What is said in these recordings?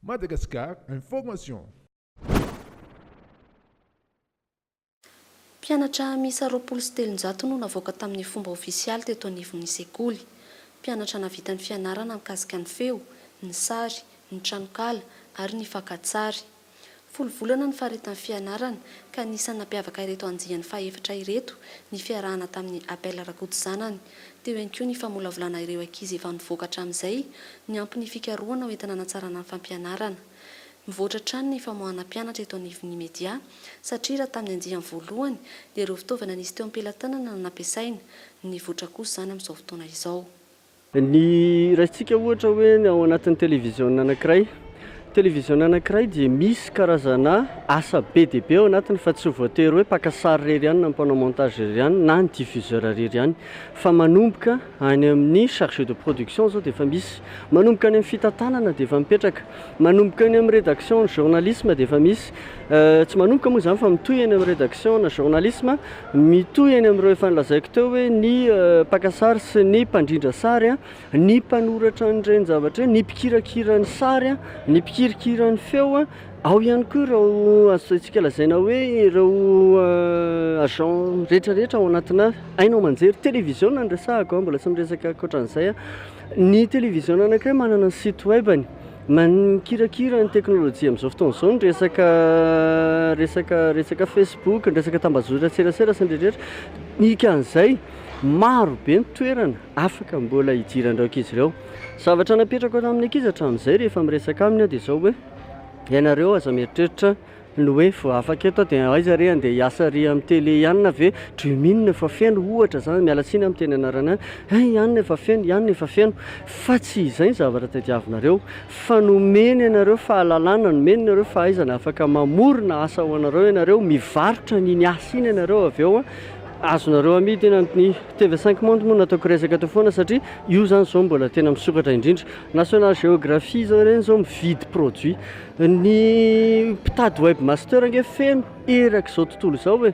Madagascar Information. Mpianatra miisa roapolo sy telonjato no navoaka tamin'ny fomba ofisialy teto anivon'ny sekoly. Mpianatra nahavita ny fianarana mikasika ny feo, ny sary, ny tranonkala ary ny fakantsary. Folo volana ny faritany fianarana ka anisan'ny nampiavaka ireto andiany fahefatra ireto ny fiarahana tamin'ny Abel Rakoto zanany. Teo ihany koa ny famolavolana ireo ankizy efa nivoaka hatramin'izay niampy ny fikarohana ho entina hanatsarana ny fampianarana. Mivoatra hatrany ny famoahana mpianatra eto anivon'ny media satria raha tamin'ny andiany voalohany dia ireo fitaovana nisy teo am-pelatanana no nampiasaina. Nivoatra kosa izany amin'izao fotoana izao. Ny raisintsika ohatra hoe ny ao anatin'ny televiziona anankiray. Televiziona anankiray dia misy karazana asa be dia be ao anatiny fa tsy voatery hoe mpaka sary irery ihany na mpanao montage irery ihany na ny diffuseur irery ihany fa manomboka any amin'ny chargé de production izao dia efa misy, manomboka any amin'ny fitantanana dia efa mipetraka, manomboka any amin'ny rédaction ny journalisme dia efa misy, tsy manomboka moa izany fa mitohy any amin'ny rédaction ny journalisme, Mitohy eny amin'ireo efa nolazaiko teo hoe ny mpaka sary sy ny mpandrindra sary, ny mpanoratra an'ireny zavatra ireny, ny mpikirakira ny sary, ny mpikirikira ny feo. Ao ihany koa ireo azontsika lazaina hoe ireo agents rehetrarehetra ao anatinà haino aman-jery. Televiziona no resahako, mbola tsy miresaka ankoatra an'izay aho. Ny televiziona anankiray manana ny site web-ny. Mikirakira ny teknolojia amin'izao fotoana izao ny resaka resaka resaka Facebook, ny resaka tambazotran-tserasera sy ny rehetrarehetra. Dikan'izay, maro be ny toerana afaka mbola hidiran'ireo ankizy ireo. Zavatra napetrako amin'ny ankizy hatramin'izay rehefa miresaka aminy aho dia izao hoe, ianareo aza mieritreritra Ny hoe vao afaka eto aho dia aiza re andeha hiasa ry amin'ny tele ihany na ve dreaming efa feno ohatra izany, miala tsiny amin'ny teny anarana an, eh ihany efa feno, ihany efa feno fa tsy izay ny zavatra tadiavinareo fa nomeny anareo fahalalana, nomeny anareo fahaizana afaka mamorona asa ho anareo ianareo, mivarotra an'iny asa iny ianareo avy eo an, azonareo amidy eny amin'ny TV cinq monde moa no nataoko resaka teo foana satria io izany izao mbola tena misokatra indrindra, national geography izao ireny izao mividy produit. Ny mpitady webmaster ange feno erak'izao tontolo izao e!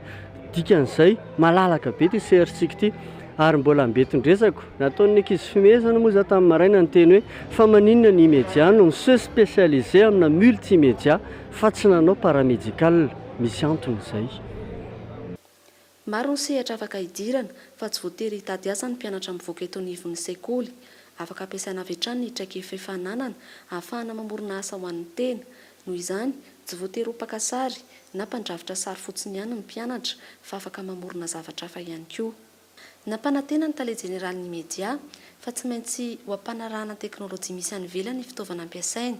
dikan'izay malalaka be ity CRC-ko ity ary mbola ambetin-dresako. Nataon'ny ankizy fimehezana moa izaho tamin'ny maraina niteny hoe fa maninona ny immedia no mi se specialiser amina multimedia fa tsy nanao paramédical? Misy antony izay. Maro ny sehatra afaka hidirana, fa tsy voatery hitady asa ny mpianatra mivoaka eto anivon'ny sekoly. Afaka ampiasaina avy hatrany ny traikefa efa ananana, ahafahana mamorona asa ho an'ny tena. Noho izany, tsy voatery ho mpaka sary, na mpandrafitra sary fotsiny ihany ny mpianatra, fa afaka mamorona zavatra hafa ihany koa. Nampanantena ny tale jeneralin'ny Media, fa tsy maintsy ho ampanarahana ny teknolojia misy any ivelany ny fitaovana ampiasaina.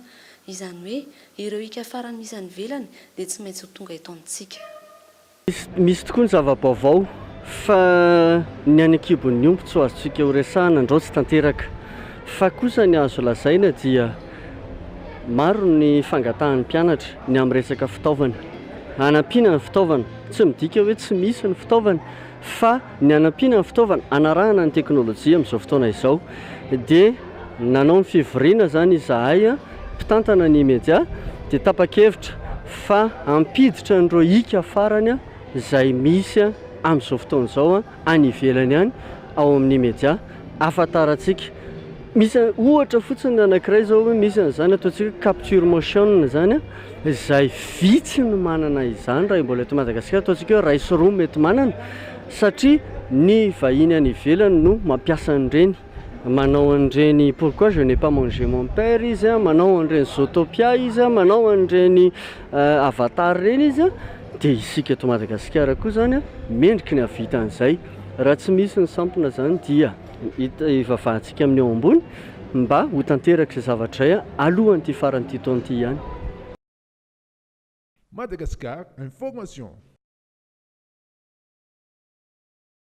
Izany hoe, ireo hiaka farany misy any ivelany dia tsy maintsy ho tonga eto amintsika. Misy tokoa ny zava-baovao fa ny any an-kibon'ny omby tsy ho azontsika horesahana andraotsy tanteraka. Fa kosa ny azo lazaina dia maro ny fangatahan'ny mpianatra ny amin'ny resaka fitaovana. Hanampiana ny fitaovana, tsy midika hoe tsy misy ny fitaovana fa Ny hanampiana ny fitaovana hanarahana ny teknolojia amin'izao fotoana izao dia nanao ny fivoriana izany izahay mpitantana ny media dia tapa-kevitra fa hampiditra an'ireo hika farany izay misy amin'izao fotoana izao any ivelany any ao amin'ny media ahafantarantsika Misy ohatra fotsiny anankiray izao hoe misy an'izany ataontsika hoe capture motion izany izay vitsy no manana izany raha mbola eto Madagasikara, ataontsika hoe iray sy roa mety manana satria ny vahiny any ivelany no mampiasa an'ireny, manao an'ireny pourquoi je n'ai pas mangé mon père izy an, manao an'ireny zootopia izy an, manao an'ireny avatar ireny izy an, dia isika eto Madagasikara koa izany an mendrika ny hahavita an'izay raha tsy misy ny sampona izany dia. Ivavahantsika amin'ny ao ambony mba ho tanterak'izay zavatra izay alohan'ity faran'ity taona ity ihany. Madagascar Information.